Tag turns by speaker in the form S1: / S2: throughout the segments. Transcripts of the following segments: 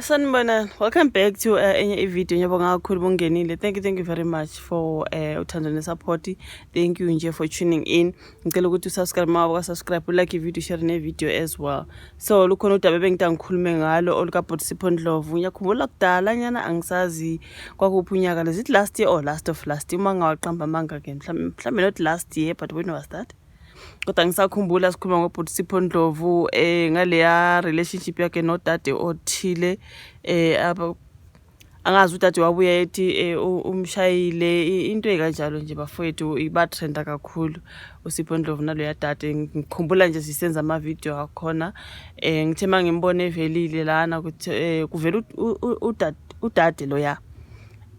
S1: Sanibonani, welcome back to uh, enye ivideo ngiyabonga kakhulu bungenile thank you thank you very much for uh, uthando nesupport thank you nje for tuning in ngicela ukuthi usubscribe uma wakasubscribe ulike ivideo share nevideo as well so lukhona udaba ebengita ngikhulume ngalo olukabhodisipho ndlovu ngiyakhumbula kudala nyana angisazi kwakuphi unyaka lezithi last year or last of last year uma ngingawaqamba amanga ke mhlawumbe not last year but when was that kodwa ngisakhumbula sikhuluma ngobhuti sipho ndlovu um eh, ngaleya relationship yakhe nodade othile um angazi udade wabuya ethi eh, umshayile into ekanjalo nje bafowethu ibatrenda kakhulu usipho ndlovu naloya dade ngikhumbula nje sisenza amavidiyo akhona um ngithe uma ngimbona evelile lana ukuthi um kuvela udade loya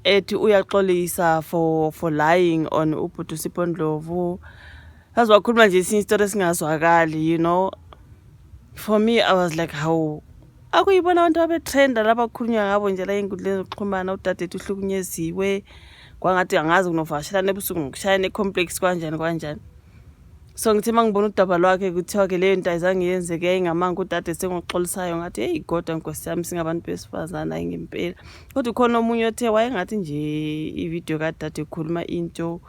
S1: ethi uyaxolisa for for lying on ubhuti usipho ndlovu saze wakhuluma nje esinye isitori esingazwakali you know for me i was like hawu akuyibona abantu abetrenda laba kukhulunywa ngabo nje la enkundleni zokuxhumana udadethu uhlukunyeziwe kwangathi angazi kunovakashelana ebusuku ngokushayana ecomplex kwanjani kwanjani so ngithe uma ngibona udaba lwakhe kuthiwa-ke leyo nto ayizange yenzeke yayingamanga udade sengoxolisayo ngathi heyi kodwa nkosi yami singabantu besifazane ayi ngempela kodwa ukhona omunye othe wayengathi nje ividiyo kadade ekhuluma into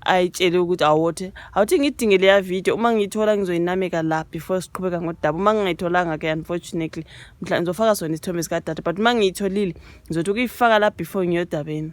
S1: ayitshele ukuthi awothe awuthi ngidinge leya video uma ngiyithola ngizoyinameka la before siqhubeka ngodaba uma ngingayitholanga-ke unfortunately mhla ngizofaka sona isithombe sikadade but uma ngiyitholile ngizothi ukuyifaka la before ngiyodabeni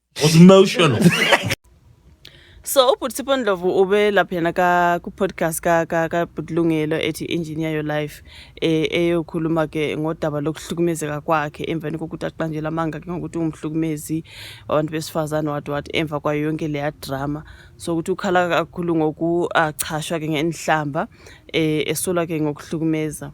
S2: was emotional
S1: so ubhuti sipho ndlovu ube laphana ka ku-podcast ka ka ka bhutilungelo ethi engineer your life eh eyokhuluma ke ngodaba lokuhlukumezeka kwakhe emveni kokuthi aqanjela amanga ke ngokuthi ungumhlukumezi wabantu besifazane what what emva kwayo yonke leya drama so ukuthi ukhala kakhulu ngokuachashwa ke ngenhlamba eh esola ke ngokuhlukumeza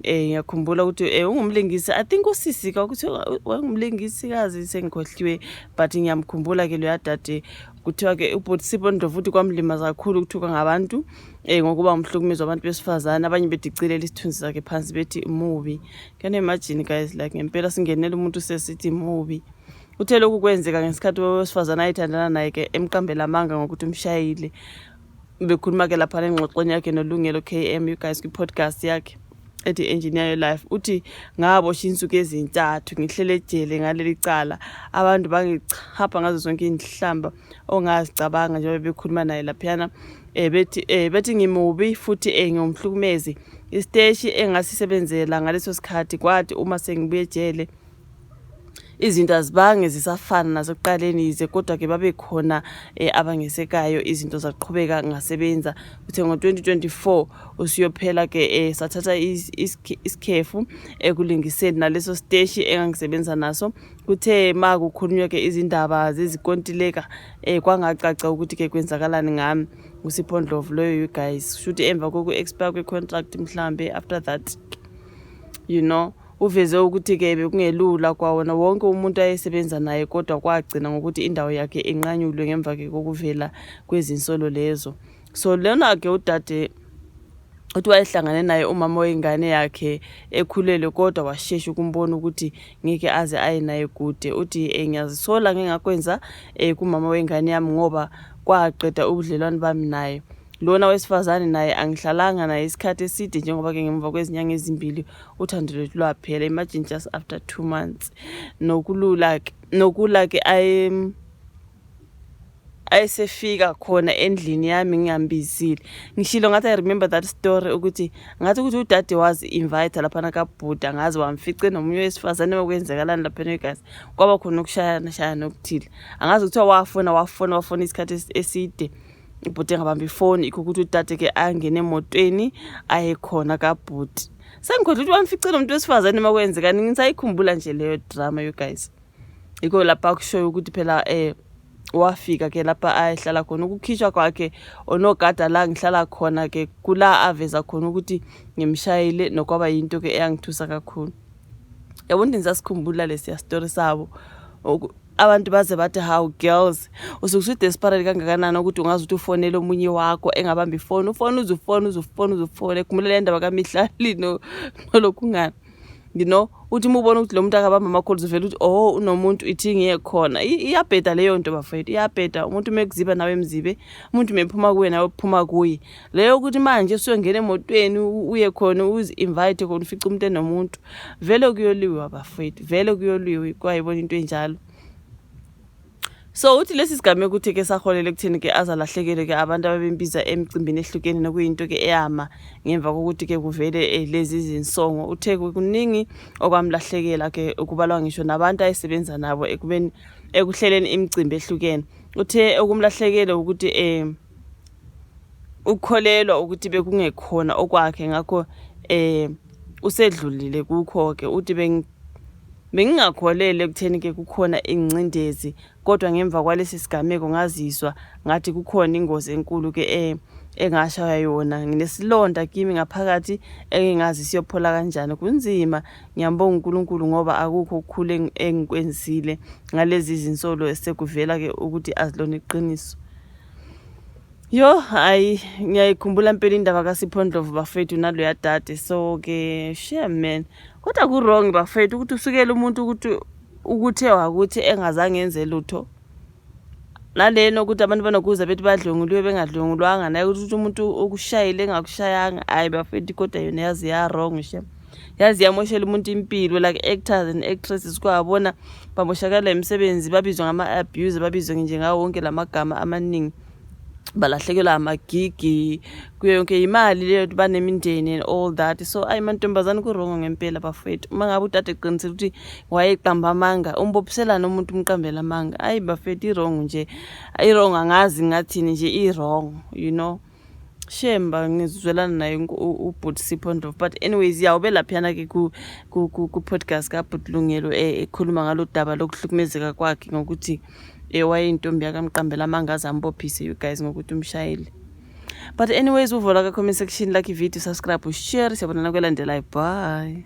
S1: Eh ngiyakhumbula ukuthi eh ungumlingisi I think usisi ka ukuthi wayengumlingisi kazi sengikhohliwe but ngiyamkhumbula ke lo yadade kuthiwa ke ubhuti Sipho Ndlovu uthi kwamlimaza kakhulu ukuthuka ngabantu eh ngokuba umhlukumezi wabantu besifazane abanye bedicilela isithunzi sakhe phansi bethi mubi can you imagine guys like ngempela singenela umuntu sesithi mubi uthe lokhu kwenzeka ngesikhathi wesifazane ayithandana naye ke emqambela amanga ngokuthi umshayile bekhuluma ke lapha nengxoxweni yakhe nolungelo km you guys kwi-podcast yakhe ethi engineer your life uthi ngabosha insuku ezintathu ngihlele ejele ngaleli cala abantu bangichapha ngazo zonke iinhlamba ongazicabanga njengoba bekhuluma naye laphiyana um bethi um bethi ngimubi futhi um ngiwumhlukumezi isiteshi engasisebenzela ngaleso sikhathi kwathi uma sengibuye ejele izinto azibange zisafana nasekuqaleni yize kodwa-ke babekhona um eh, abangesekayo izinto zaqhubeka ngasebenza kuthe ngo-2024 usiyophela-ke um sathatha isikhefu ekulingiseni naleso siteshi engangisebenza naso kuthe ma kukhulunywa-ke izindaba zezikontileka um kwangacaca ukuthi-ke kwenzakalani ngami ngusiphondlovu loyo you guys shuthi emva koku-expire kwe-contract mhlawumbe after that you know Uveze ukuthi ke bekungelula kwawona wonke umuntu ayesebenza naye kodwa kwagcina ngokuthi indawo yakhe inqanyulwe ngemva ke kokuvela kwezinsolo lezo. So lona ke udade uthi wayehlangane naye umama wengane yakhe ekhulelwe kodwa washesha ukumbona ukuthi ngeke aze aye naye kude uthi eh, ngiyazisola ngengakwenza eh, kumama wengane yami ngoba kwaqeda ubudlelwane bami naye lona wesifazane naye angihlalanga naye isikhathi eside njengoba ke ngemva kwezinyanga ezimbili uthando lwethu lwaphela imagine just after two months nokulula ke nokula ke ayesefika khona endlini yami ngingambizile ngishilo ngathi i remember that story ukuthi ngathi ukuthi udade wazi invite laphana kabhuda ngazi wamfice nomunye wesifazane okwenzekalani laphana egazi kwaba khona ukushayana shayana okuthile angazi kuthiwa wafona wafona wafona isikhathi eside ibhuti engabamba ifoni ikho ukuthi udade ke angene emotweni ayekhona kabhuti sengikhohlwa ukuthi wamfice lo muntu wesifazane uma kwenzekani ngisayikhumbula nje leyo drama you guys yikho lapha kushoyo ukuthi phela um wafika ke lapha ayehlala khona ukukhishwa kwakhe onogada la ngihlala khona ke kula aveza khona ukuthi ngimshayile nokwaba yinto ke eyangithusa kakhulu yabo ndini sasikhumbula lesiya story sabo abantu baze bathi how girls usuke usudesperate kangakanani ukuthi ungazi ukuthi ufonele omunye wakho engabambi ifoni ufone uze ufone uze ufone uze ufone khumbulela indaba kamihlali nolokhu ngani you know uthi uma ubona ukuthi lo muntu akabamba amakholzi uvele ukuthi oh unomuntu ithi ngiye khona iyabheda leyo nto bafethu iyabheda umuntu uma ekuziba nawe emzibe umuntu uma ephuma kuwe nawe uphuma kuye leyo ukuthi manje usuyongena emotweni uye khona uzi-invite khona ufica umuntu enomuntu vele kuyoliwe abafowethu vele kuyoliwe kwayibona into enjalo so uthi lesi sigameko ukuthi ke saholele ekutheni ke azalahlekele ke abantu ababembiza emcimbini ehlukene nokuyinto ke eyama ngemva kokuthi ke kuvele eh, lezi zinsongo uthe kuningi okwamlahlekela ke ukubalwa ngisho nabantu ayesebenza nabo ekubeni ekuhleleni imicimbi ehlukene uthe okumlahlekele ukuthi um ukukholelwa ukuthi bekungekhona okwakhe ngakho eh usedlulile kukho ke uthi bengingakholele ekutheni ke kukhona ingcindezi kodwa ngemva kwalesi sigameko ngazizwa ngathi kukhona ingozi enkulu ke eh engashaya yona nginesilonda kimi ngaphakathi engingazi siyophola kanjani kunzima ngiyambonga uNkulunkulu ngoba akukho ukukhule engikwenzile ngalezi zinsolo esekuvela ke ukuthi azilona iqiniso Yo hayi ngiyayikhumbula mpela indaba kaSiphondlovu bafethu naloya dade so ke share man kodwa ku wrong bafethu ukuthi usukele umuntu ukuthi ukuthe wakuthi engazange enze lutho nalena ukuthi abantu banokuza bethi badlwengulwe bengadlwengulwanga naye ukuthi umuntu okushayile engakushayanga hayi bafethu kodwa yona yazi ya wrong shem yazi yamoshela umuntu impilo like actors and actresses kwabona bamoshakala imisebenzi babizwa ngama-abuse babizwe nje ngawo wonke la magama amaningi balahlekelwa amagigi kuyo yonke imali leyo ukuthi banemindeni and all that so ayi mantombazane kurongo ngempela bafethu uma ngabe udade eqinisile ukuthi wayeqamba amanga umbophiselana umuntu umqambela amanga ayi bafethu irongo nje irongo angazi ngathini nje irongo you know shemba ngizwelana naye ubhuti sipho ndlovu but anyways ya ube laphiyana-ke ku-podcast kabhuti lungelo eh, ekhuluma ngalo daba lokuhlukumezeka kwakhe ngokuthi eh, wayeyintombi yakamqambela amangaze ambophise you guys ngokuthi umshayeli but anyways uvola ka-comment section like ivideo subscribe ushare siyabonana kwelandelayo bye